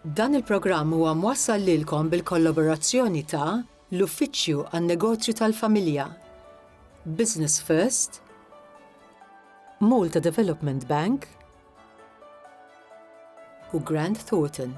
Dan il-programm huwa mwassal lilkom bil-kollaborazzjoni ta' l-Uffiċċju għan-Negozju tal-Familja, Business First, Malta Development Bank u Grant Thornton.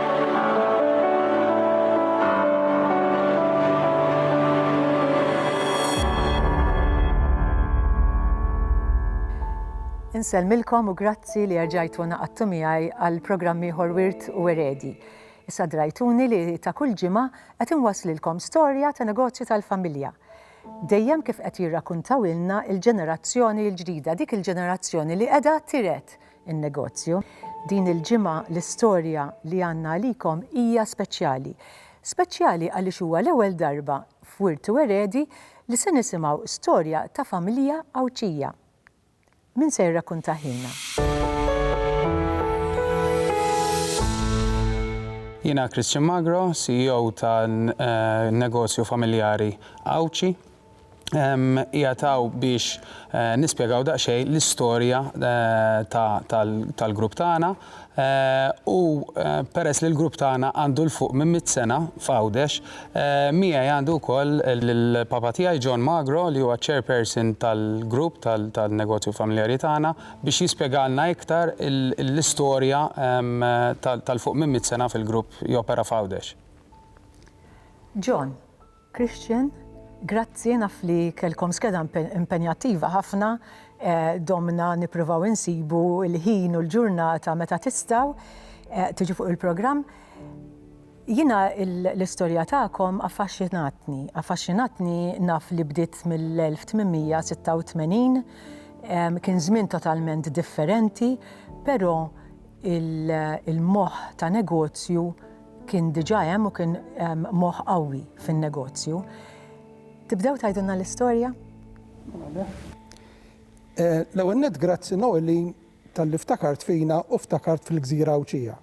Insellmilkom u grazzi li erġajtu naqattu miegħi għal programm ieħor Wirt u Eredi. Issa drajtuni li ta' kull ġimgħa qed inwaslilkom storja ta' negozju tal-familja. Dejjem kif qed jirrakuntaw ilna il-ġenerazzjoni l-ġdida, dik il-ġenerazzjoni li qiegħda tiret in-negozju. Din il-ġimgħa l-istorja li għandna għalikom hija speċjali. Speċjali għaliex huwa l-ewwel darba f'Wirt u Eredi li se nisimgħu storja ta' familja Għawdxija. Min se jirrakkuntahielna? Jiena Christian Magro, CEO tan-negozju familjari Għawdxi. qiegħed hawn biex nispjegaw daqsxejn l-istorja tal-grupp tagħna u peress li l-grupp tagħna għandu 'l fuq minn mitt sena f'Għawdex, miegħi għandi wkoll lill-papa tiegħi John Magro li huwa ċ-chairperson tal-grupp tan-negozju familjari tagħna biex jispjegalna iktar l-istorja tal-fuq minn mitt sena fil-grupp jopera f'Għawdex. John. Christian, Grazzi, naf li kellkom skeda impenjattiva ħafna, domna nippruvaw insibu l-ħin u l-ġurnata meta tistgħu tiġu fuq il-programm. Jiena l-istorja tagħkom affaxxinatni, affaxxinatni naf li bdiet mill-1886, kien żmien totalment differenti, però il-moħħ ta' negozju, kien diġà hemm u kien moħħ qawwi fin-negozju. Tibdew tgħidilna l-istorja? Eh, l-ewwel net grazzi Noli tal-li ftakart fina u ftakart fil-Gżira Awċija.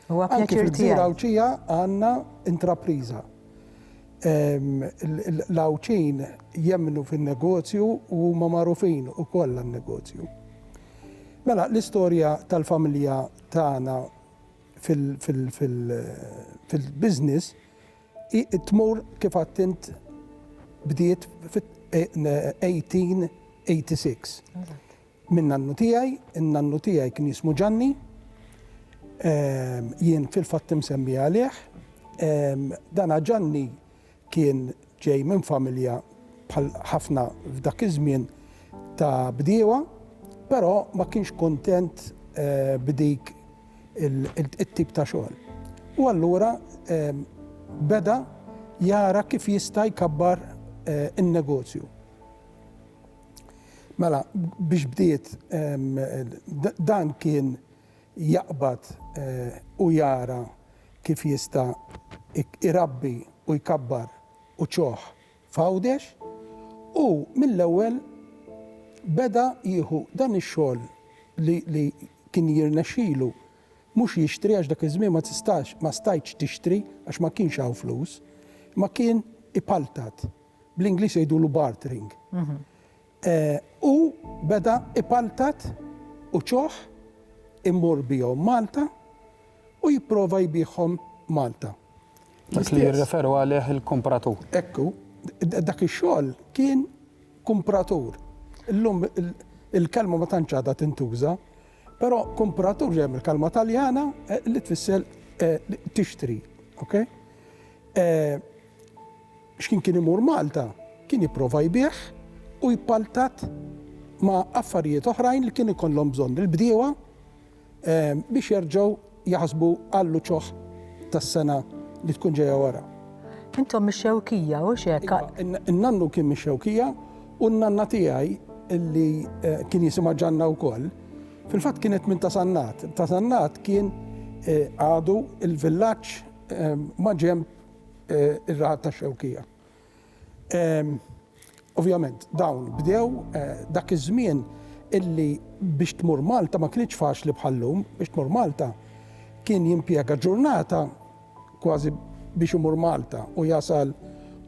Huwa pjaċir fil-Gżira Awċija għandna intrapriża. L-Awċin jemmnu fin-negozju u huma magħrufin ukoll għan-negozju. Mela, l-istorja tal-familja tagħna fil-business tmur kif għadt int bdiet fit-1886. Minn nannu tiegħi, in-nannu tiegħi kien jismu Ġanni, jien fil-fatt imsemmi għalih. Dana Ġanni Kien ġej minn familja, bħal ħafna f'dak iż-żmien, ta' bdiewa, però ma kienx kuntent b'dik it-tip ta' xogħol. U allura beda jara kif jista' jkabbar in-negozju. Mela, biex bdiet, dan kien jaqbad u jara kif jista' irabbi u jkabbar uċuħ f'Għawdex u mill-ewwel beda jieħu dan ix-xogħol li li kien jirnexxilu mhux jixtri għax dak iż-żmien ma tistax ma stajtx tixtri għax ma kienx hawn flus imma kien ipaltat, bl-Ingliż jgħidulu bartering. Hu beda ipaltat u ċoħ immur bihom Malta u jipprova jbiegħhom Malta. Dak li jirreferu għalih il-kumpratur. Hekk hu. Dak ix-xogħol kien kumpratur. Illum il-kelma ma tantx għadha tintuża, però kumpratur ġejja mill-kelma Taljana li tfisser tixtri. Okay? X'kien kien imur Malta kien jipprova jbigħ u jpaltat ma' affarijiet oħrajn li kien ikollhom bżonn il-bdiewa biex jerġgħu jaħsbu għall-uċuħ tas-sena li tkun ġejja wara. Intom mix-Xewkija, hux hekk? Iva, n-nannu kien mix-Xewkija u n-nanna tiegħi li kien jisimha Ġanna wkoll, fil-fatt kienet minn Ta' Sannat. Ta' Sannat kien għadu l-villaġġ maġenb eh, ir-raħat ta' Xewkija. Ehm, ovvjament, dawn bdew eh, dak iż-żmien illi biex tmur Malta ma kienx faċli bħallum, biex tmur Malta kien jimpjega ġurnata kważi biex imur Malta u jasal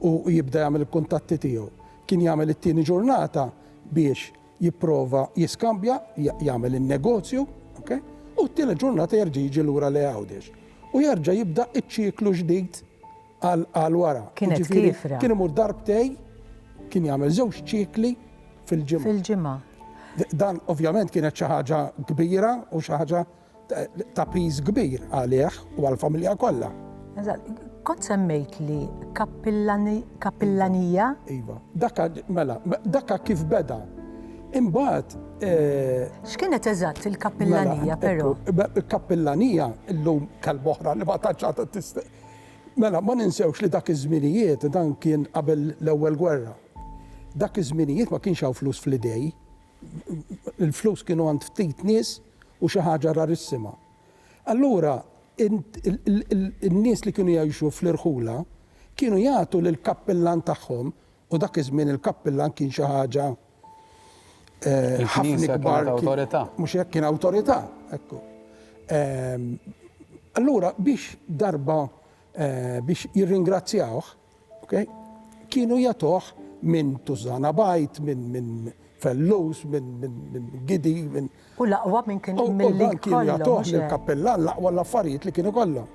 u jibda jagħmel il-kuntatti tiegħu. Kien jagħmel it-tieni ġurnata biex jipprova jiskambja, jagħmel in-negozju, ok, u t-tielet ġurnata jerġa' jiġi lura lejn Għawdex. U jerġa' jibda ċ-ċiklu ġdid għal wara. Kienet Jiġifieri, kiefra. Kien imur darbtej, kien jagħmel żewġ ċikli fil-ġimgħa. Fil-ġimgħa. Dan ovvjament kienet xi ħaġa kbira u xi ħaġa ta' piż kbir għalih u għall-familja kollha. Eżatt, kont semmejtli kappillanija? Iva, dakka mela, dakka kif beda. Imbagħad. X'kienet eżatt il-kappillanija però? Il-kappillanija llum kelma oħra li ma tantx għadha tista' Mela, ma ninsewx li dak iż-żminijiet dan kien qabel l-Ewwel Gwerra. Dak iż-żminijiet ma kienx hawn flus fl-idej. il-flus kienu għand ftit nies u xi ħaġa rarissima. Allura in-nies li kienu jgħixu fl-irħula kienu jagħtu lill-kappillan tagħhom, u dak iż-żmien il-kappillan kien xi ħaġa ħafna ikbar, mhux hekk, kien awtorità, ekku. Allura biex darba biex jirringrazzjawh, Okay? Kienu jatoh minn Tużana Bajt, minn min Fellus, minn min, min Gidi, minn. U laqwa minn kien mill-li. Kienu jatoh minn kappella laqwa l-affarijiet li kienu kollha.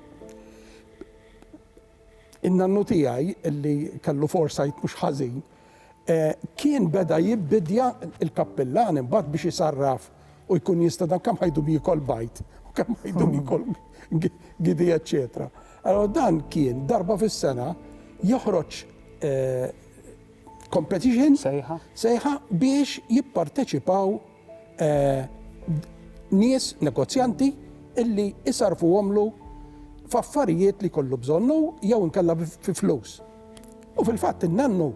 In-nannu tiegħi li kellu foresight mhux ħażin, kien beda jibbidja l-kappillan imbagħad biex isarraf u jkun jista' dan kemm ħajdum jiekol bajd u kemm ħajdum jiekol gidi eċċetera. Allora dan kien darba fis-sena joħroġ competition sejħa biex jipparteċipaw nies negozjanti illi isarrfuhomlu f'affarijiet li jkollu bżonn hu jew inkella fi flus. U fil-fatt in-nannu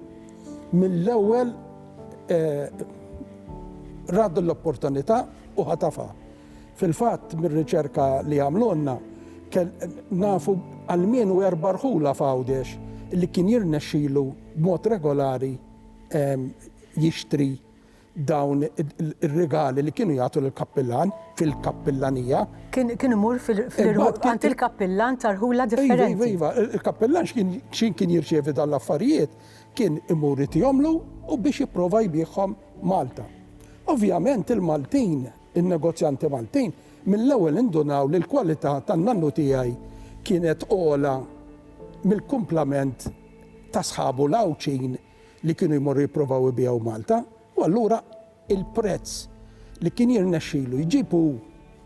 mill-ewwel ra din l-opportunità u ħatafha. Fil-fatt mir-riċerka li għamlulna nafu almenu erba' rħula f'Għawdex li kien jirnexxilu b'mod regolari jixtri dawn ir-rigali li kienu jagħtu lill-kappillan fil-kappillanija. Kien kien imur fil-irħula għand il-kappillan ta' rħula differenti. Iva, iva, iva, il-kappillan x'kien kien jirċievi dawn l-affarijiet kien imur itihomlu u biex jipprova jbiegħhom Malta. Ovvjament il-Maltin, in-negozjanti Maltin, mill-ewwel indunaw li l-kwalità tan-nannu tiegħi kienet ogħla mill-kumplament ta' sħabu l-Għawdxin li kienu jmorru jipprovaw ibigħu Malta u allura il-prezz li kien jirnexxilu jġib hu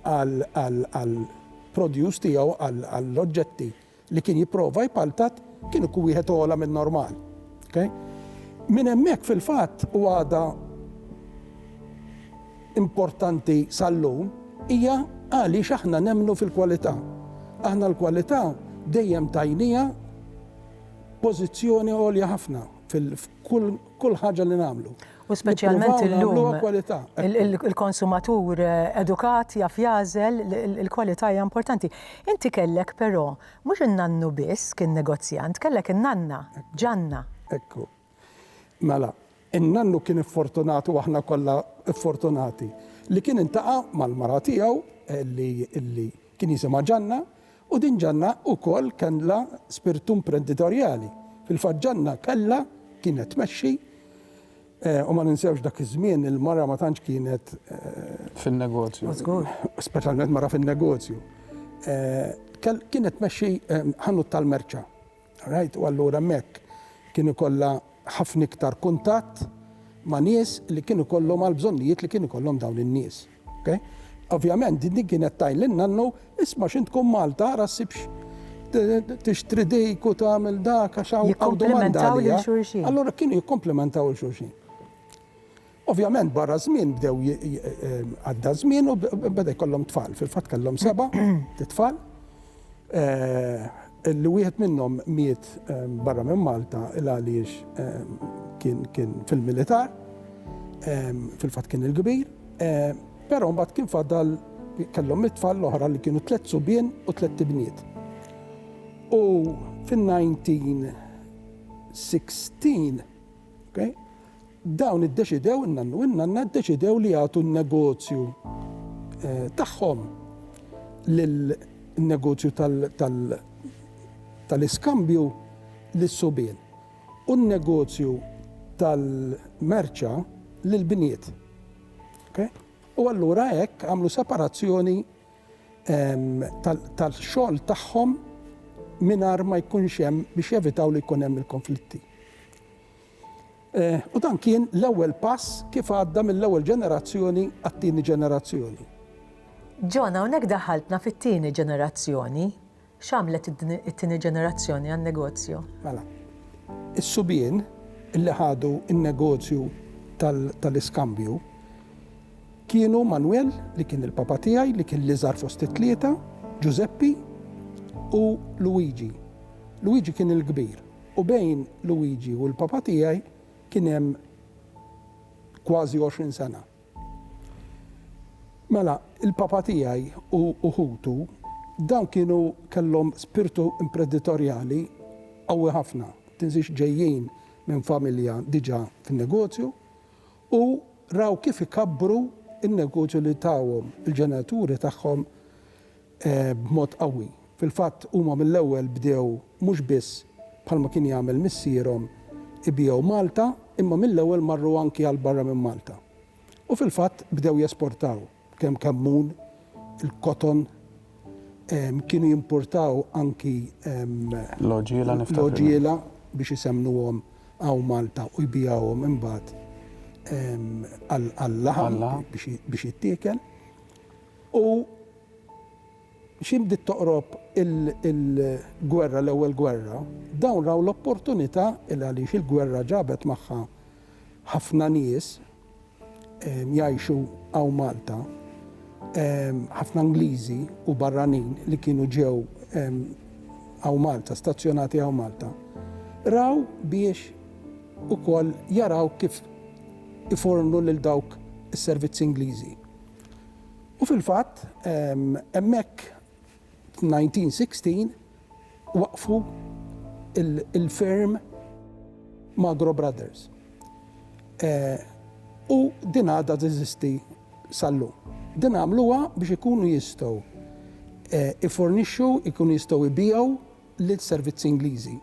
għall-produce tiegħu, għall-oġġetti li kien jipprova jpaltat, kien ikun wieħed ogħla min-normal. Minn hemmhekk fil-fatt u għadha importanti sal-lum hija għaliex aħna nemmnu fil-kwalità. Aħna l-kwalità dejjem tajniha. pożizzjoni għolja ħafna f'kull ħaġa li nagħmlu. U speċjalment illum il-konsumatur edukat jaf jażel il-kwalità hija importanti. Inti kellek però mhux in-nannu biss kien negozjant, kellek in-nanna, ġanna. Ekku. Mela, in-nannu kien iffortunat u aħna kollha ffortunati li kien intaqa' mal-mara tiegħu li li kien jisimha Ġanna u din Ġanna ukoll kellha spirtu imprenditorjali. Fil-fatt Ġanna kellha kienet tmexxi u ma ninsewx dak iż-żmien il-mara ma tantx kienet fin-negozju. Żgur. Speċjalment mara fin-negozju. Kienet tmexxi ħanut tal-merċa. Right, u allura hemmhekk kien ikollha ħafna iktar kuntatt ma' nies li kien ikollhom għal bżonnijiet li kien ikollhom dawn in-nies. Okay? Ovvjament din din kienet tajn lil nannu isma' x'int tkun Malta ara ssibx tixtri dik u tagħmel dak għax hawn domanda għalija. Allura kienu jikkomplimentaw il xulxin. Ovvjament barra żmien bdew għadda żmien u beda jkollhom tfal. Fil-fatt kellhom seba' tfal. Li wieħed minnhom miet barra minn Malta il għaliex kien fil-militar. Fil-fatt kien il-kbir. Però mbagħad kien fadal kellhom it-tfal l-oħra li kienu tliet subien u tliet ibniet. U fin-1916, okay, Dawn iddeċidew, in-nannu u n-nanna ddeċidew li jagħtu n-negozju tagħhom lil, in-negozju tal-iskambju lis-subien u n-negozju tal-merċa lill-bniet. Okej? U allura hekk għamlu separazzjoni tal-xogħol tagħhom mingħajr ma jkunx hemm, biex jevitaw li jkun hemm il-konflitti. U dan kien l-ewwel pass kif għadda mill-ewwel ġenerazzjoni għat-tieni ġenerazzjoni. John, hawnhekk daħħaltna fit-tieni ġenerazzjoni. X'għamlet it-tieni ġenerazzjoni għan-negozju? Mela, is-subien li ħadu n-negozju tal-iskambju kienu Manwel, li kien il-papa tiegħi, li kien l-iżgħar fost it-tlieta, Ġużeppi u Luigi. Luigi kien il-kbir. U bejn Luigi u l-papa tiegħi kien hemm kważi għoxrin sena. Mela, il-papa tiegħi u u ħutu, dawn kienu kellhom spirtu impreditorjali qawwi ħafna. Tinsiex ġejjin minn familja diġà fin-negozju u raw kif ikabbru n-negozju li tawhom il-ġenituri tagħhom b'mod qawwi. Fil-fatt, huma mill-ewwel bdew mhux biss, bħalma kien jagħmel missierhom, ibiegħu Malta, imma mill-ewwel marru anki għal barra minn Malta. U fil-fatt bdew jesportaw, kemm kammun, il-koton, kienu jimpurtaw anki l-għoġiela biex isemmnuhom hawn Malta u jbiegħuhom imbagħad għal-laħam biex jittiekel. U xi bdiet toqrob il-gwerra, l-ewwel gwerra, dawn raw l-opportunità li għaliex il-gwerra ġabet magħha ħafna nies jgħixu hawn Malta, ħafna Ingliżi u barranin li kienu ġew hawn Malta, stazzjonati hawn Malta, raw biex ukoll jaraw kif ifornu lil dawk is-servizzi Ingliżi. U fil-fatt, hemmhekk f'1916 waqqfu l-firm Magro Brothers. U din għadha teżisti sal-lum. Din għamluha biex ikunu jistgħu jiffornixxu, ikunu jistgħu jbiegħu lis-servizzi Ingliżi.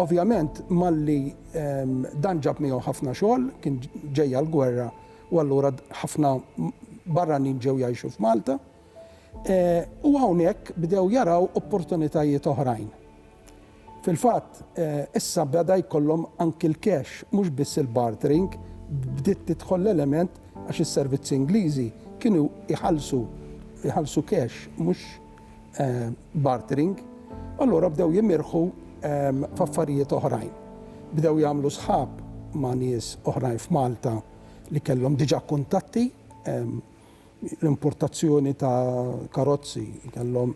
Ovvjament malli dan ġab miegħu ħafna xogħol, kien ġejja l-gwerra u allura ħafna barranin ġew jgħixu f'Malta. U hawnhekk bdew jaraw opportunitajiet oħrajn. Fil-fatt, issa beda jkollhom anki l-cash, mhux biss il-bartering, bdiet tidħol l-element għax is-servizzi Ingliżi kienu jħallsu cash, mhux. bartering, allura bdew jimirħu f'affarijiet oħrajn. Bdew jagħmlu sħab ma' nies oħrajn f'Malta li kellhom diġà kuntatti, l-importazzjoni ta' karozzi, kellhom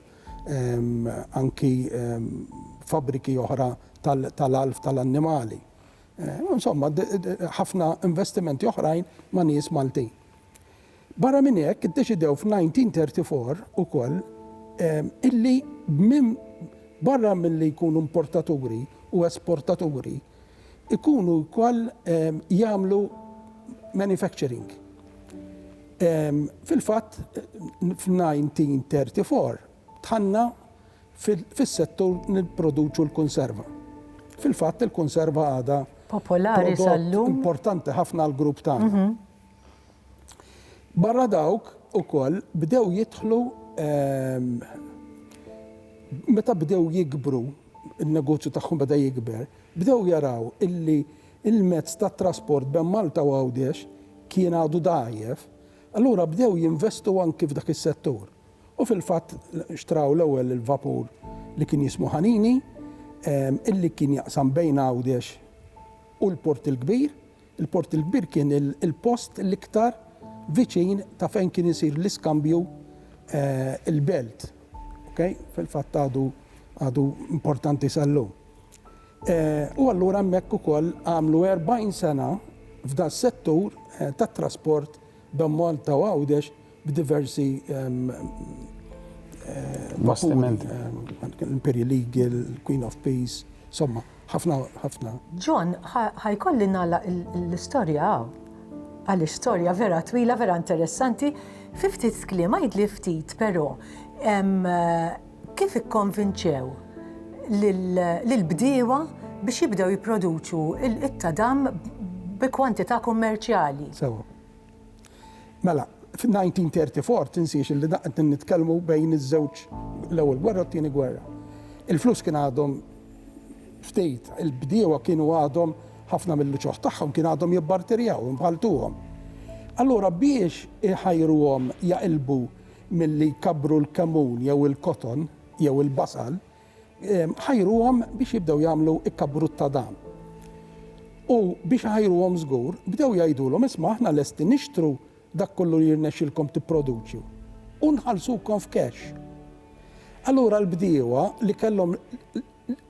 anki fabbriki oħra tal-għalf tal-annimali. Insomma, ħafna investimenti oħrajn ma' nies Maltin. Barra minn hekk, iddeċidew f'1934 ukoll illi barra milli jkunu importaturi u esportaturi, ikunu wkoll jagħmlu manufacturing. Fil-fatt, f'1934 dħalna fis-settur nipproduċu l-kunserva. Fil-fatt, il-kunserva għadha prodott importanti ħafna għall-grupp tagħna. Barra dawk ukoll bdew jidħlu meta bdew jikbru n-negozju tagħhom beda jikber, bdew jaraw illi l-mezz tat-trasport bejn Malta u Għawdex kien għadu dgħajjef, allura bdew jinvestu anki f'dak is-settur. U fil-fatt xtraw l-ewwel il-vapur li kien jismu Ħanini illi kien jaqsam bejn Għawdex u l-Port il-Kbir. Il-Port il-Kbir kien il-post l-iktar viċin ta' fejn kien isir l-iskambju il-belt. Okay? Fil-fatt għadu għadu importanti sal-lum. U allura hemmhekk ukoll għamlu 40 sena f'da settur tat-trasport Dom Malta u Għawdex b'diversi bastimenti, l-Imperial Eagle, il-Queen of Peace, insomma, ħafna, ħafna. John, ħa jkolli nagħlaq l-istorja hawn. Għaliex storja vera twila, vera interessanti. Fi ftit kliem għidli ftit, però, Kif ikkonvinċew lill-bdiewa biex jibdew jipproduċu t-tadam bi kwantità kummerċjali? Sewwa. Mela, fin-1934, tinsiex li dan qegħdin nitkellmu bejn iż-żewġ, l-Ewwel Gwerra u t-Tieni Gwerra. Il-flus kien għadhom ftit, il-bdiewa kienu għadhom, ħafna mill-uċuħ tagħhom kien għadhom jibbarterjaw, imħalltuhom. Allura biex iħajruhom jaqilbu milli jkabbru l-kemun jew il-koton jew il-basal, ħajruhom biex jibdew jagħmlu kkabrut ta' dan. U biex iħajruhom żgur, bdew jgħidulhom, isma' aħna lesti nixtru dak kollu li jirnexxilkom tipproduċju u nħallsukom f'cash. Allura l-bdiewa li kellhom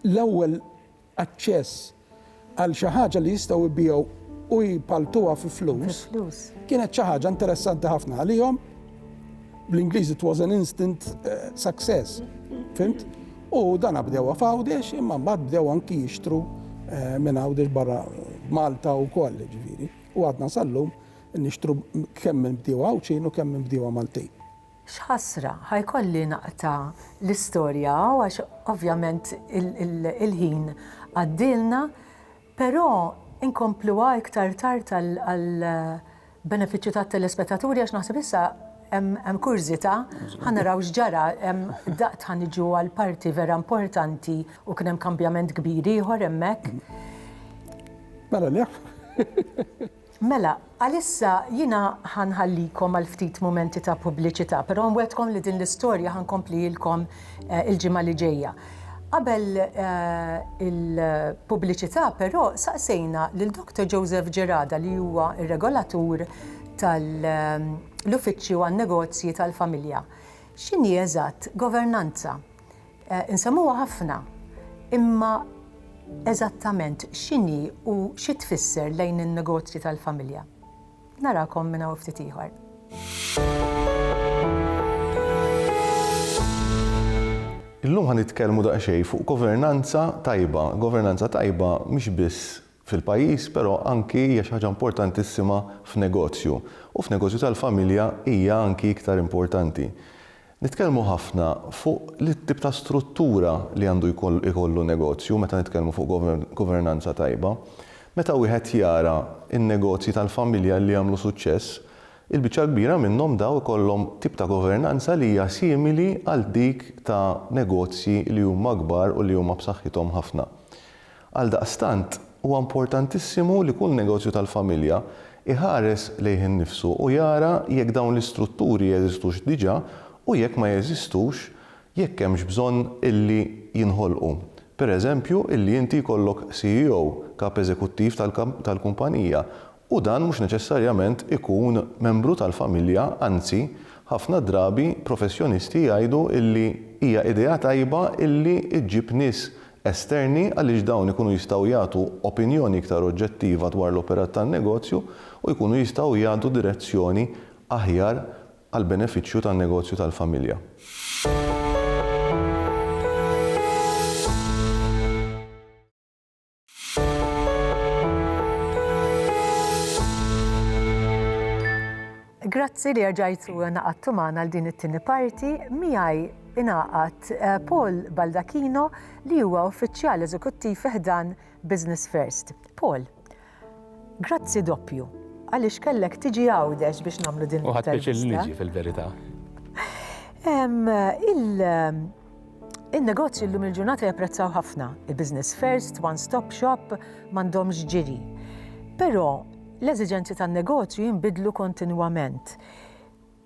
l-ewwel aċċess għal xi ħaġa li jistgħu jbigħu u jpalltuha fi flus, kienet xi ħaġa interessanti ħafna għalihom. Bl-Ingliż it was an instant eh, success. Fimt? U dan bdew f'Għawdex imma mbagħad bdew anki jixtru eh, minn Għawdex barra Malta u koll ġifieri. U għadna sallum nixtru kemm minn bdiewa Għawdxin u kemm minn bdiewa Maltin. X'ħasra, ħa jkolli naqta' l-istorja hawn għax ovvjament il-ħin għaddielna, però inkompluha iktar tard għall-benefiċċju tat-telespettaturi għax naħseb issa hemm kurżità, ħa naraw x'ġara, daqt ħa niġu għall-parti vera importanti u kien hemm kambjament kbir ieħor hemmhekk. Mela nieqfu. Mela, għalissa jiena ħa nħallikom għal ftit mumenti ta' pubbliċità, però nwegħdkom li din l-istorja ħa nkomplihilkom il-ġimgħa li ġejja. Qabel il-pubbliċità, però, saqsejna lil Doctor Joseph Gerada li huwa r-Regolatur tal-Uffiċċju għan-Negozji tal-Familja x'inhi eżatt governanza. Eh, insemmuha ħafna, imma eżattament x'inhi u xi tfisser lejn in-negozji tal-familja. Narakom minn hawn ftit ieħor. Illum ħan nitkellmu daqsxejn fuq governanza tajba. Governanza tajba mhix biss fil-pajjiż, però anki hija xi ħaġa importantissima f'negozju, u f'negozju tal-familja hija anki iktar importanti. Nitkellmu ħafna fuq it-tip ta' struttura li għandu jkollu negozju meta nitkellmu fuq governanza tajba. Meta wieħed jara n-negozji tal-familja li għamlu suċċess, il-biċċa l-kbira minnhom daw ikollhom tip ta' governanza li hija simili għal dik ta' negozji li huma kbar u li huma b'saħħithom ħafna. Għaldaqstant, huwa importantissimu li kull negozju tal-familja jħares lejh innifsu u jara jekk dawn l-istrutturi jeżistux diġà u jekk ma jeżistux, jekk hemmx bżonn illi jinħolqu. Pereżempju, illi inti jkollok CEO, kap eżekuttiv tal-kumpanija, u dan mhux neċessarjament ikun membru tal-familja, anzi, ħafna drabi professjonisti jgħidu illi hija idea tajba illi ġġib nies esterni għaliex dawn ikunu jistgħu jagħtu opinjoni iktar oġġettiva dwar l-operat tan-negozju u jkunu jistgħu jagħtu direzzjoni aħjar għall-benefiċċju tan-negozju tal-familja. Grazzi li erġajtu naqadtu magħna għal din it-tieni parti miegħi ingħaqad eh, Paul Baldacchino li huwa uffiċjal eżekuttiv ħdan Business First. Paul, grazzi doppju għaliex kellek tiġi għawdex biex nagħmlu din. Uħat biex il-liġi fil-verità. Il- In-negozji llum il-ġurnata japprezzaw ħafna il-business first, one-stop shop, m'għandhomx ġiri. Però l-eżiġenzi tan-negozju jinbidlu kontinwament.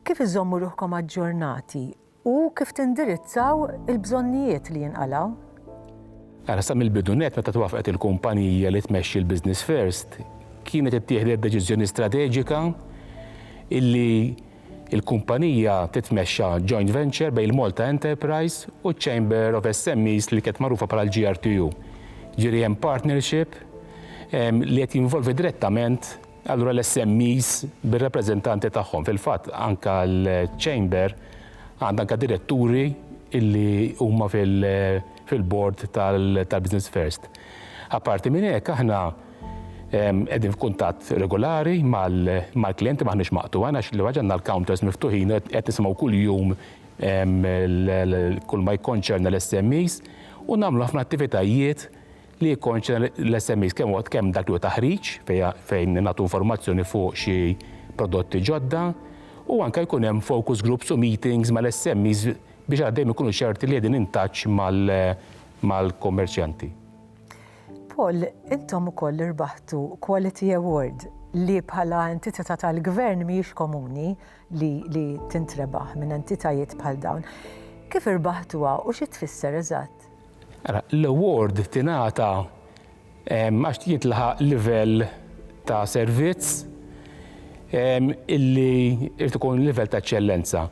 Kif iżommu ruħkom aġġornati u kif tindirizzaw il-bżonnijiet li jinqalgħu? Ara, sa mill-bidu nett meta twaffqet il-kumpanija li tmexxi l-business first, kienet ittieħdet deċiżjoni strateġika illi Il-kumpanija titmexxa joint venture bejn il-Malta Enterprise u ċ-Chamber of SMEs li kienet magħrufa bħala l-GRTU. Jiġifieri hemm partnership li qed jinvolvi direttament allura l-SMEs bir-rappreżentanti tagħhom. Fil-fatt anke l-Chamber għandha anke diretturi li huma fil-board tal-Business First. Apparti minn hekk aħna Qegħdin f'kuntatt regulari mal-klijenti, m'aħniex maqtugħin għax l-ewwel ħaġa għandna l-counters miftuħin, qed nisimgħu kuljum kull ma jikkonċerna l-SMEs u nagħmlu ħafna attivitajiet li jikkonċerna l-SMEs, kemm huwa kemm dak li huwa taħriġ fejn nagħtu informazzjoni fuq xi prodotti ġodda u anke jkun hemm focus groups u meetings mal-SMEs biex dejjem ikunu ċerti li qegħdin in touch mal-kummerċjanti. Paul, intom ukoll irbaħtu Quality Award li bħala entitità tal-Gvern mhijiex komuni li li tintrebaħ minn entitajiet bħal dawn. Kif irbaħtuha u xi tfisser eżatt? Ara, l-award tingħata ehm, għax jintlaħaq livell ta' servizz ehm, illi irid ikun livell ta' eċċellenza.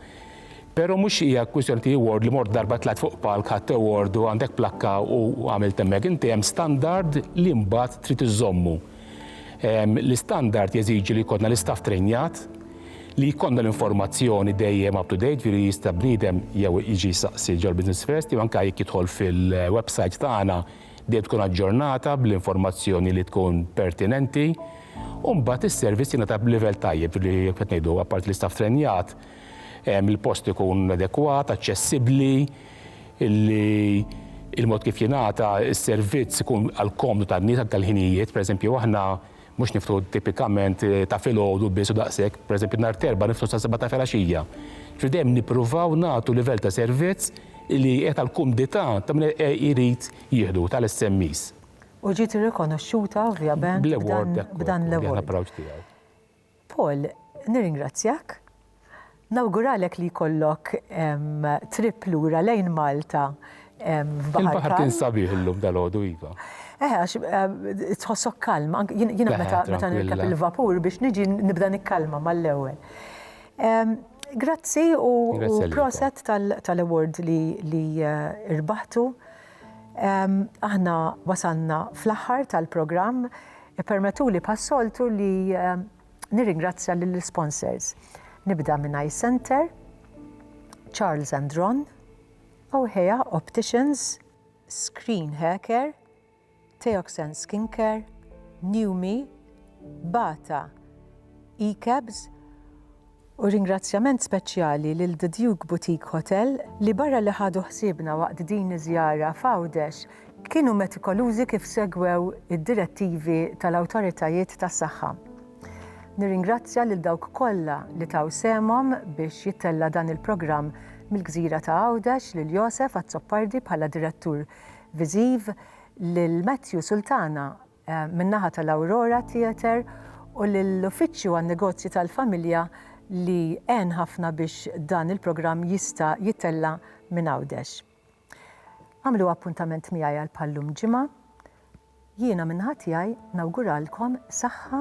Pero mhux hija kwistjoni ti award li mort darba tlajt fuq palk ħadt award u għandek plakka u għamilt hemmhekk. Inti hemm standard li mbagħad trid iżommu. L-istandard jeżiġi li jkollna l-istaff trejnjat, li jkollna l-informazzjoni dejjem up to date, ġifieri jista' bniedem jew jiġi jsaqsi ġol Business First jew anke jekk jidħol fil-website tagħna dejjem tkun aġġornata bl-informazzjoni li tkun pertinenti. U mbagħad is-service jingħata b'livell tajjeb, ġifieri kif qed ngħidu apparti l-istaff trejnjat, il-post ikun adekwat, aċċessibbli, li il-mod kif jingħata s-servizz ikun għall-komdu tan-nies anke l-ħinijiet. Pereżempju aħna mhux niftħu tipikament ta' filgħodu biss u daqshekk, pereżempju nhar t-Erbgħa niftħu sas-sebgħa ta' filgħaxija. Ġifieri dejjem nippruvaw nagħtu livell ta' servizz li qiegħed għall-kumdità ta' min irid jieħdu, tal-SMEs. U ġiet irrikonoxxuta ovvjament b'dan l-award. Paul, nirringrazzjak. Nawguralek li jkollok trip lura lejn Malta f'baħar kalm. Il-baħar kien sabiħ illum dalgħodu iva. Eħe, għax tħossok kalm. Jiena meta nirkeb il-vapur biex niġi nibda nikkalma mal-ewwel. Grazzi u proset tal-award li rbaħtu. Aħna wasalna fl-aħħar tal-programm. Ippermettuli bħas-soltu li nirringrazzja lill-isponsors. Nibda minn Eye Centre, Charles and Ron, Ohea Opticians, Screen Hair Care, Teoxen Skincare, New Me, Bata, E-Cabs, U ringrazzjament speċjali lil The Duke Boutique Hotel li barra li ħadu ħsiebna waqt din iż-żjara f'Għawdex, kienu metikolużi kif segwew id-direttivi tal-awtoritajiet tas-saħħa. Nirringrazzja lil dawk kollha li taw sehemhom biex jittella' dan il-programm mill-gżira ta' Għawdex, lil Josef Azzopardi bħala Direttur Viżiv, lil Matthew Sultana min-naħa tal-Aurora Theatre u lill-Uffiċċju għan-Negozji tal-Familja li għen ħafna biex dan il-programm jista' jitella' minn Għawdex. Agħmlu appuntament miegħi għal bħal-lum ġimgħa. Jiena min-naħa tiegħi nawguralkom saħħa,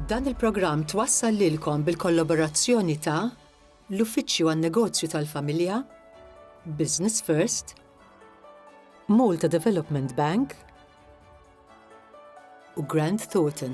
Dan il-programm twassal lilkom bil-kollaborazzjoni ta' l-Uffiċċju għan-Negozju tal-Familja, Business First, Malta Development Bank u Grant Thornton.